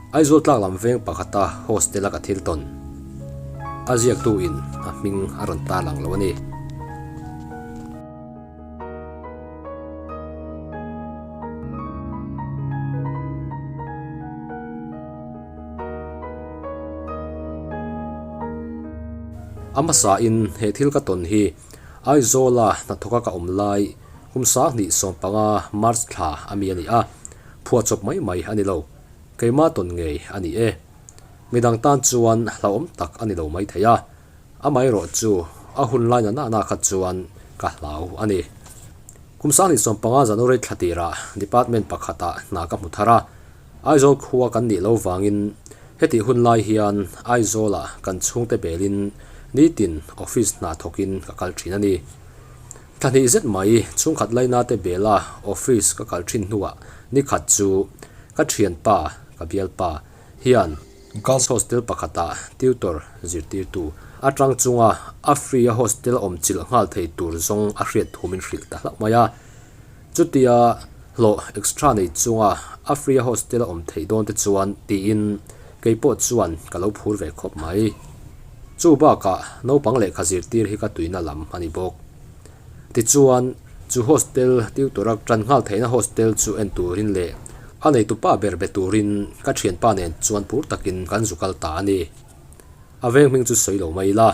Aizawl tlak lam veng pakhata hostel a ka thil tawn a ziaktu in a hming a rawn tar ang lo a ni. A hmasa in he thil ka tawn hi Aizawla hnathawka ka awm lai kum sang hnih sawm panga March thla a mi a ni a. Phuah chawp mai mai a ni lo. Keimah tawn ngei a ni e. Midang tan chuan hlauhawm tak a ni lo maithei a. Amaherawh chu a hun laina nahna kha chuan ka hlau a ni. Kum sanghnih sawm panga January thla tirah department pakhata hna ka hmu thar a. Aizawl khua kan nih lo vangin heti hun lai hian Aizawla kan chhungte belin nitin office hna thawkin ka kal thin a ni. Thla hnih zet mai chhungkhat lainate bela office ka kal thin hnuah nikhat chu ka thianpa, ka bialpa, hian girls hostel pakhatah tutor zirtirtu atang chunga a free-a hostel awm chilh nghal thei tur zawng a hriat thumin hrilh ta hlauh mai a. Chutia hlawh extra nei chunga a free a hostel a awm theih dawn te chuan tiin keipawh chuan ka lo phur ve khawp mai. Chu bakah naupang lehkha zirtir hi ka tuihna lam a ni bawk. Tichuan, chu hostel tutor a tan nghal theihna hostel chu en turin leh a neitu pa ber be turin ka thianpa nen chuan phur takin kan zu kal ta a ni. a veng hming chu sawi lo mai ila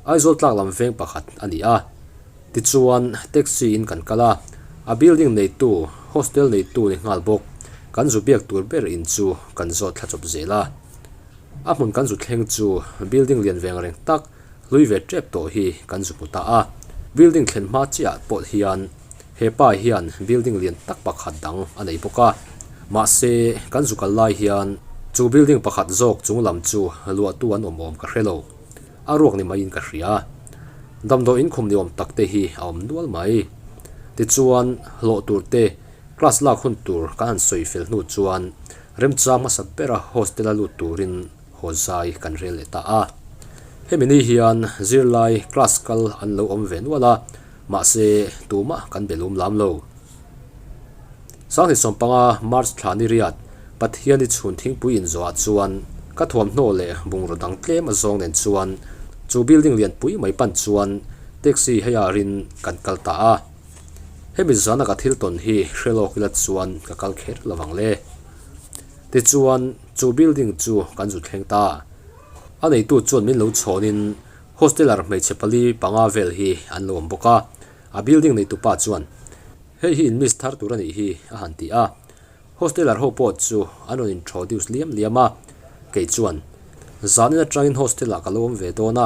Aizawl tlak lam veng pakhat a ni a tichuan taxi in kan kal a a building neitu hostel neitu ni nghal bawk kan zu biak tur ber in chu kan zawt thla chawp zel a a hmun kan zu thleng chu building lian veng reng tak hlui ve tep tawh hi kan zu hmu ta a building thlen hma chiah pawh hian-- He pa hian building lian tak pakhat dang a nei bawk a, mahse kan zu kal lai hian chu building pakhat zawk chung lam chu luahtu an awm awm ka hre lo. A ruak ni maiin ka hria. Damdawi inkhum ni awm tak te hi a awm nual mai. Tichuan hlawh tur te, class lak hun tur kan han sawi fel hnu chuan remchang hmasa bera hostel a lut turin haw zai kan rel leh ta a. Hemi ni hian zirlai class kal an lo awm ve nual a, mahse tumah kan be lum lam lo. Sanghnit sawm panga March thla ni riat Pathian i chhun thingpui inzuahah chuan ka thuamhnaw leh bungraw dang tlem a zawng nen chuan chu building lianpui mai pan chuan taxi hei ah rin kan kal ta a. Hemi zana ka thil tawn hi hrelawk ila chuan ka kal kher lovang le. Tichuan. Chu building chu kan zut thleng ta a, a neitu chuan min lo chhawnin hosteller hmeichhe pali panga vel hi an lo awm bawk a, a building neitupa chuan hei hi in miss thar tur a nih hi a han ti a, hosteller ho pawh chu an rawn introduce liam liam a, kei chuan zahna atangin hostel ah ka lo awm ve dawn a,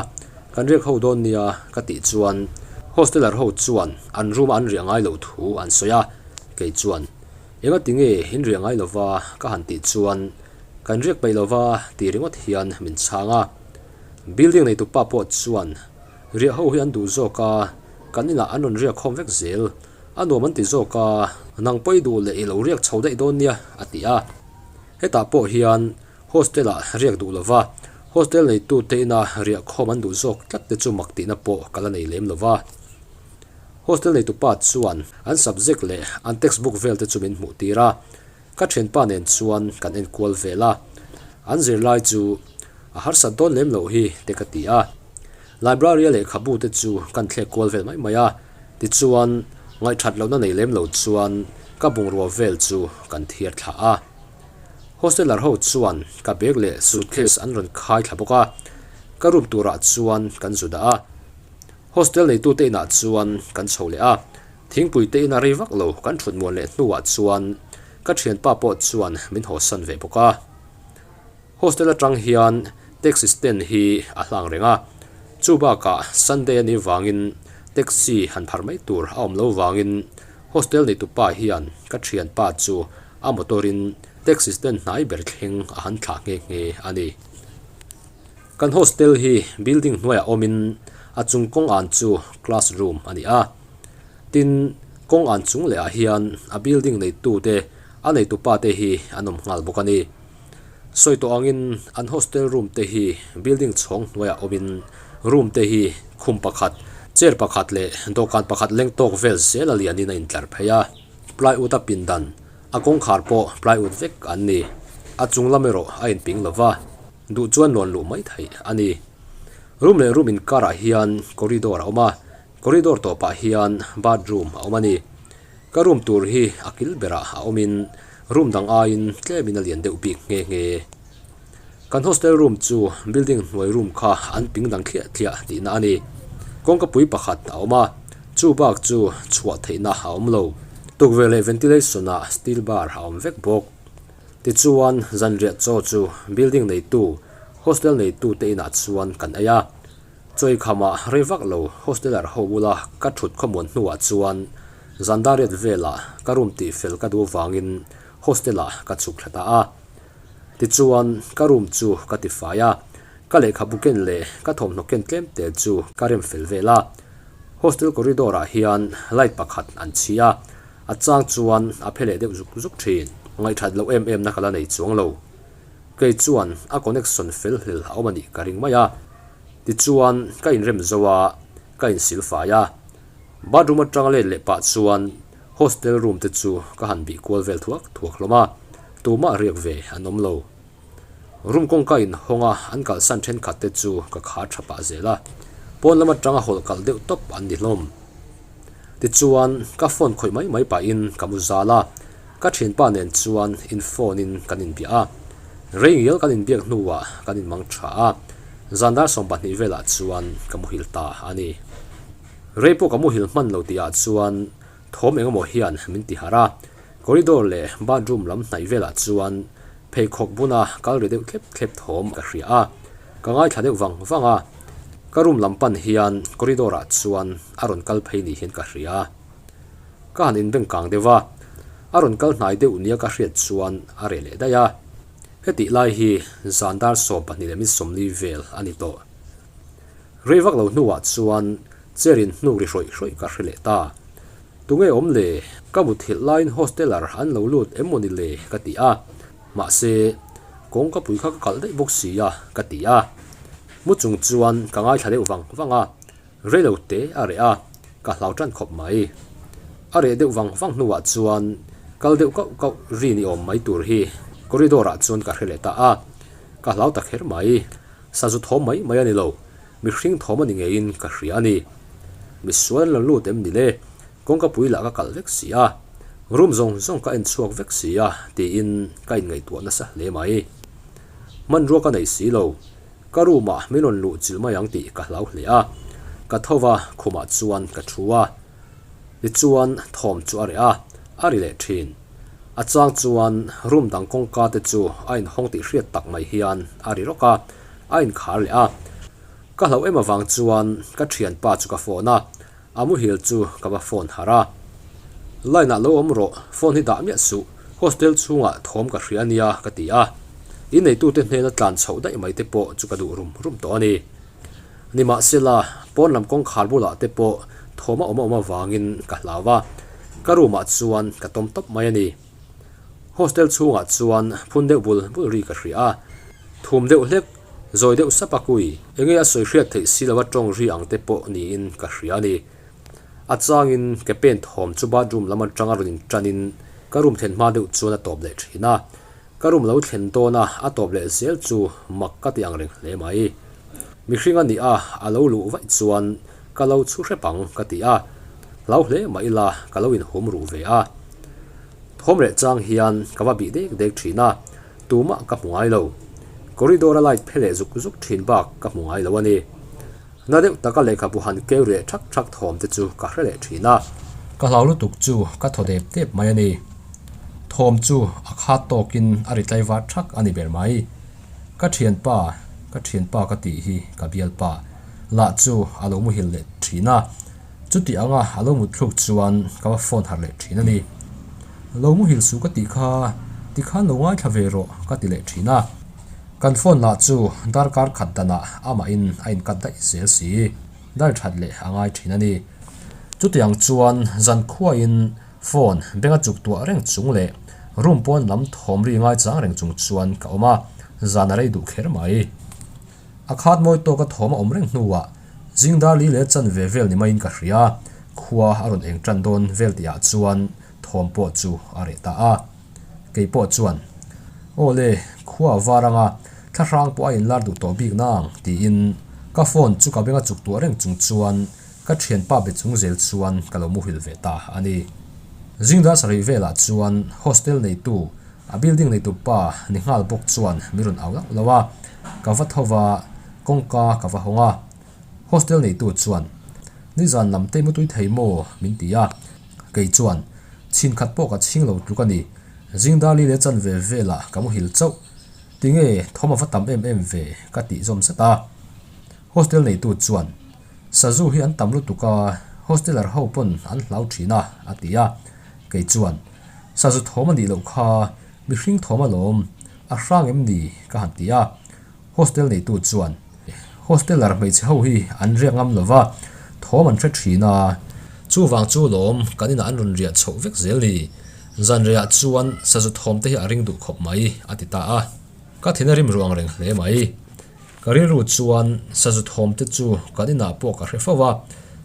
kan riak ho dawn nia ka tih chuan hosteller ho chuan an room ah an riah ngai loh thu an sawi a, kei chuan. Enga ti nge in riah ngai lova ka han tih chuan kan riak peih lova tih ringawt hian min chhang a. Building nei tupa pawh chuan riah ho hi an duh zawk a, kan inah an rawn riak khawm vek zel. A nuam an ti zawk a, nang pawi duh leh i lo riak chho daih dawn nia a ti a. Hetah pawh hian hostel ah riak duh lova hostel neitute ina riah khawm an duh zawk tlat te chu mak tihna pawh ka la nei lem lova. Hostel neitupa chuan an subject leh an textbook vel te chu min hmuh tir a, ka thianpa nen chuan kan enkual vel a, an zirlai chu a harsat dawn lem lo hi te ka ti a, library-a lehkhabu te chu kan thlek kual vel mai mai a, tichuan ngaihthat lohna nei lem lo chuan ka bungrua vel chu kan thiar thlah a, hosteler ho chuan ka bag leh suitcase an rawn khai thla bawk a, ka room turah chuan kan zu dah a. Hostel neitute inah chuan kan chho leh a, thingpui te ina rei vak lo kan thut muan leh hnuah chuan ka thianpa pawh chuan min haw san ve bawk a. Hostel atang hian taxi stand hi a hlang reng a, chu bakah Sunday a nih vangin taxi han pharh mai tur a awm lo vangin hostel neitu pa hian ka thianpa chu a motor in taxi stand hnai ber thleng a han thlah nghe nghe a ni. Kan hostel hi building hnuaiah awmin a chung kawng an chu class room a ni a, tin kawng an chung leh ah hian a building neitu te a neitu pa te hi an awm nghal bawk a ni. Sawi tawh angin an hostel room te hi building chhawng hnuaiah awmin room te hi khum pakhat, chair pakhat leh dawhkan pakhat leng tawk vel sela lianin a intlar phei a. Plywood a pindan, a kawngkhar pawh plywood vek an ni, a chung lam erawh a inping lo va. duh chuan nuan luh mai theih a ni. Room leh room inkarah hian corridor a awm a, corridor tawpah hian bathroom a awm a ni. Ka room tur hi a kil berah a awmin room dang aiin tlemin a lian deuh bik nghe nghe. Kan hostel room chu building hnuai room kha an ping dang thliah thliah tihna a ni. Kawngkapui pakhat a awm a, chu bak chu chhuah theihna a awm lo. Tukverh leh ventilation-ah steel bar a awm vek bawk. Tichuan, zanriatchaw chu building neitu, hostel neitu te inah chuan kan ei a. Chawi khama rei vak lo hosteler ho bula ka thut khawmuan hnuah chuan zandariat velah ka room tihfel ka duh vangin hostelah ka chhuk thla ta a. Tichuan, ka room chu ka tifai a, ka lehkhabu ken leh ka thawmhnaw ken tlem tel chu ka rem fel vel a. Hostel corridor-ah hian light pakhat an chhi a, A chang chuan a phe leh deuh zuk zuk thin. Ngaihthat loh em em na ka la nei chuang lo. Kei chuan a connection fel hlel a awm a nih ka ring mai a. Tichuan ka inrem zo a, ka insil fai a. Bathroom atang let leh pah chuan hostel room te chu ka han bih kual vel thuak thuak hlawm a. Tumah riak ve an awm lo. Room kawngka in hawnga an kalsan thenkhat te chu ka khar tha pah zel a, pawn lam atanga hawl kal deuh tawp an ni hlawm. Tichuan ka phone khawih mai mai pahin ka mu zal a, ka thinpa nen chuan in phone in kan inbiah a, reingial kan inbiak hnuah kan inmang tha a, zan dar sawm pahnih velah chuan ka muhil ta a ni. Rei pawh ka muhil hman lo tihah chuan Thawm eng emaw hian min ti harh a, corridor leh bathroom lam hnaih velah chuan pheikhawk buna kal ri deuh thlep thlep thawm ka hria a, ka ngaithla deuh vang vang a, ka room lam pan hian corridor ah chuan a rawn kal phei nih hian ka hria a, ka han inbeng kang deuh a, a rawn kal hnai deuh nia ka hriat chuan a reh leh daih a, hetihlai hi zan dar sawm pahnih leh min sawmli vel a ni tawh. Rei vak lo hnuah chuan chair in hnuk ri hrawih hrawih ka hre leh ta. Tunge awm le, ka muthilh laiin hosteler an lo lut em mawni le ka ti a, mahse kawngka pui kha ka kalh daih bawk si a ka ti a. Mu chung chuan ka ngaithla deuh vang vang a, rei lo te a reh a, ka hlau tan khawp mai. A reh deuh vang vang hnuah chuan kal deuh kauh kauh ri ni awm mai tur hi corridor ah chuan ka hre leh ta a, ka hlau ta kher mai. Sa zu thawm mai mai a ni lo, mihring thawm a ni ngeiin ka hria a ni. Misual lo lut em ni le, kawngka pui lah ka kalh vek si a, room zawng zawng ka en chhuak vek si a tiin ka inngaihtuah nasa hle mai. Hmanrua ka nei si lo, ka room ah min rawn luh chil mai ang tih ka hlau hle a, ka tho va khumah chuan ka thu a. Ni chuan thawm chu a reh a, a ri leh thin. A chang chuan room dang kawngka te chu a inhawng tih hriat tak mai hian a ri rawk a, a inkhar leh a. Ka hlo em avang chuan ka thianpa chu ka phone a, a muhil chu ka va phone harh a. Line ah lo awm rawh, phone hi dah miah suh, hostel chhungah thawm ka hria nia ka ti a. I neitute hnena tlan chhoh daih mai te pawh chu ka duh rum rum tawh a ni. Nimahsela, pawn lam kawngkhar bulah te pawh thawm a awm awm avangin ka hlau a, ka room ah chuan ka tawm tawp mai a ni. Hostel chhungah chuan phun deuh bul bul ri ka hria a, thum deuh hlek, zawi deuh sap a kui. Enge a sawi hriat theih si lo a tawng ri ang te pawh niin ka hria a ni. A changin ke pen thawm chu bathroom lam atanga rawn in ṭanin ka room thlen hma deuh chuan a tawp leh ṭhin a, Ka rum lo thlen tawn a, a tawp leh zel chu mak ka tih ang reng hle mai. Mihring a nih a, a lo luh vaih chuan ka lo chhu hrep ang ka ti a, hlau hle mah ila ka lo in hum ruh ve a. Thawm reh chang hian ka va bih dek dek thin a, tumah ka hmu ngai lo. Corridor a light phe leh zuk zuk thin bak ka hmu ngai lo a ni. Hna deuh taka lehkhabu han keu reh ṭhak ṭhak thawm te chu ka hre leh ṭhin a. Ka hlau lutuk chu ka thaw dep dep mai a ni. Thawm chu a khat tawkin a ri tlai vat ṭhak a ni ber mai. Ka ṭhianpa, ka ṭhianpa ka tih hi ka bialpa lah chu a lo muhil leh ṭhin a. Chuti anga a lo mut thluk chuan ka va phone harh leh thin a ni. Lo mu hil su ka tih kha, tikhan lo ngaithla ve rawh ka ti leh thin a. Kan phone lah chu darkar khat danah amahin a in cut daih zel si i dal that leh a ngai thin a ni. Chutiang chuan zan khuain phone bag a chuk tuah reng chung leh room pawn lam thawm ri ngai chang reng chung chuan ka awm a, zan a rei duh kher mai. A khat mawi tawk a thawm a awm reng hnuah zingdar li leh chan ve vel ni maiin ka hria. Khua a rawn eng tan dawn vel tih ah chuan thawm pawh chu a reh ta a. Kei pawh chuan, Aw le, khua a var anga thlahrang pawh a inlar duh tawh bik nang, tiin ka phone chu ka beng a chuk tuah reng chung chuan ka thianpa be chung zel chuan ka lo muhil ve ta a ni. Zingdar sarei velah chuan hostel neitu A building neitup pa ni nghal bawk chuan min rawn au lauh lo a, ka va tho va, kawngka ka va hawng a. Hostel neitu chuan, Nizan lam te mutui thei maw? min ti a, kei chuan, Chhin khat pawh ka chhing lo tluk a ni, zingdarli leh chanve vela ka muhil chauh, tinge thawm a va tam em em ve? ka tih zawm zet a. Hostel neitu chuan. Sazu hi an tam lutuk a, hosteler ho pawn an hlau thin a, a ti a. Kei chuan, Sazu thawm a nih loh kha, mihring thawm alawm, a hrang em ni? ka han ti a. Hostel neitu chuan, Hosteler hmeichhe ho hi an riak ngam lo va, thawm an hre thin a. Chuvang chu lawm kan inah an rawn riah chhoh vek zel ni? Zanriah chuan Sazu thawmte hi a ring duh khawp mai, a ti ta a. Ka thina rim ruang reng hle mai. Ka rilru chuan sazu thawm te chu kan inah pawh ka hre fo va,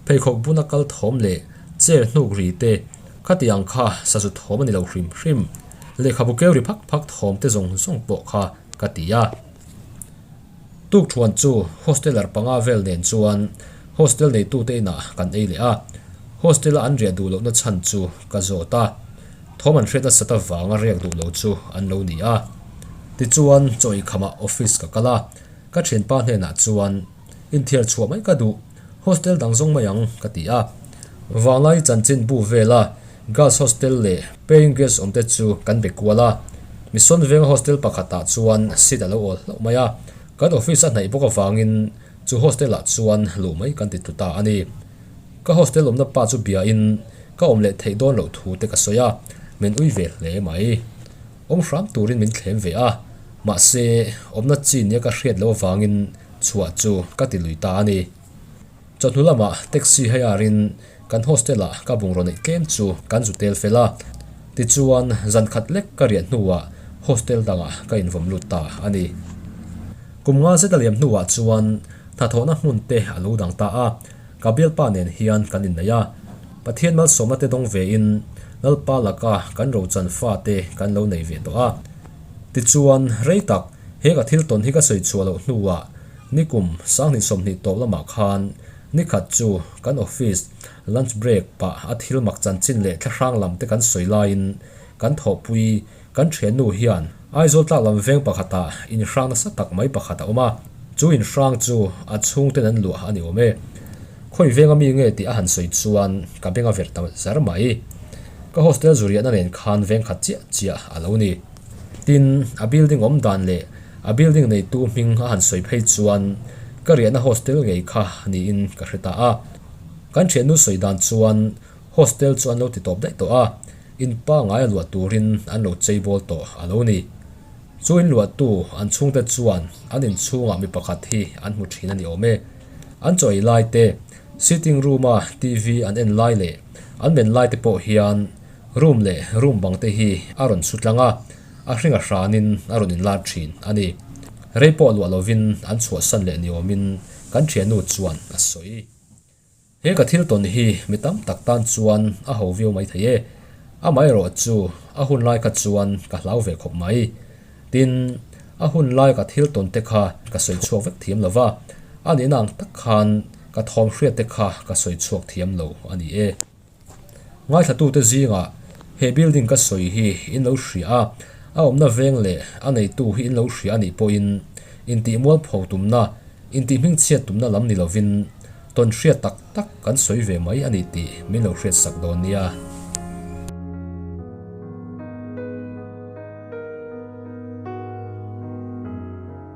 pheikhawk bun a kal thawm leh chair hnuk ri te, khatiang kha sazu thawm a ni lo hrim hrim. Lehkhabu keu ri phak phak thawm te zawng zawng pawh kha ka ti a. Tukthuan chu hosteler panga vel nen chuan hostel neitute inah kan ei leh a, hostel a an riah duh lohna chhan chu ka zawt a. Thawm an hriat nasat avanga riak duh lo chu an lo ni a. Tichuan chawi khamah office ka kal a, ka thianpa hnenah chuan, In thiar chhuah mai ka duh, hostel dang zawng mai ang ka ti a. Vanglai chanchin bu vela girls hostel leh paying guest awm te chu kan be kual a, mission venga hostel pakhatah chuan seat a lo awl hlauh mai a, kan office a hnaih bawk avangin chu hostel ah chuan luh mai kan ti tlu ta a ni. Ka hostel awmna pa chu biain ka awm leh theih dawn loh thu te ka sawi a, min ui ve hle mai. Awm hram turin min thlem ve a, mahse awmna chinia ka hriat loh avangin chhuah chu ka ti lui ta a ni. Chawhnu lama taxi hire in kan hostel ah ka bungraw neih tlem chu kan zu tel fel a, tichuan zan khat lek ka riah hnuah hostel dangah ka invawn lut ta a ni. Kum nga zeta liam hnuah chuan hnathawhna hmun te a lo dang ta a. Ka bialpa nen hian kan inneih a, Pathian malsawmna te dawng ve in Lalpa laka kan rochan fate kan lo nei ve tawh a. Tichuan, rei tak, he ka thil tawn hi ka sawi chhuah loh hnuah nikum sanghnih sawmhnih tawp lamah khan nikhat chu kan office lunch break pah a thil mak chanchin leh thlahrang lam te kan sawi laiin kan thawhpui Kan thiannu hian Aizawl tlak lam veng pakhatah inhrang nasa tak mai pakhat a awm a, chu inhrang chu a chhungten an luah a ni awm e. Khawi venga mi nge tih a han sawi chuan ka beng a ver ta zer mai. Ka hostel zuriahna nen khan veng khat chiah chiah a lo ni. Tin, a building awm dan leh a building neitu hming a han sawi phei chuan ka riahna hostel ngei kha niin ka hre ta a. Kan thiannu sawi dan chuan hostel chu an lo ti tawp daih tawh a. In pangngai a luah turin an lo cheibawl tawh a lo ni. Chu in luahtu an chhungte chuan an in chhungah mi pakhat hi an hmu thin a ni awm e. An chaw ei laite, sitting room-a TV an en lai leh an men laite pawh hian room leh room bangte hi a rawn su tlang a, a hringa hranin a rawn in lar thin a ni. Rei pawh luah lovin an chhuahsan leh ni awmin kan ṭhiannu chuan a sawi. He ka thil tawn hi mi tam tak tan chuan a ho viau mai thei e, amaherawh chu a hun lai kha chuan ka hlau ve khawp mai. Tin, a hun laika thil tawn te kha ka sawi chhuak vek thiam lo va, a nihna ang tak khan ka thawm hriatte kha ka sawi chhuak thiam lo a ni e. Ngaihlatute zingah he building ka sawi hi in lo hria a, a awmna veng leh a neitu hi in lo hria a nih pawhin intihmualpho tumna, intihmingchhiat tumna lam ni lovin tawn hriat tak tak kan sawi ve mai a ni tih min lo hriat sak dawn nia.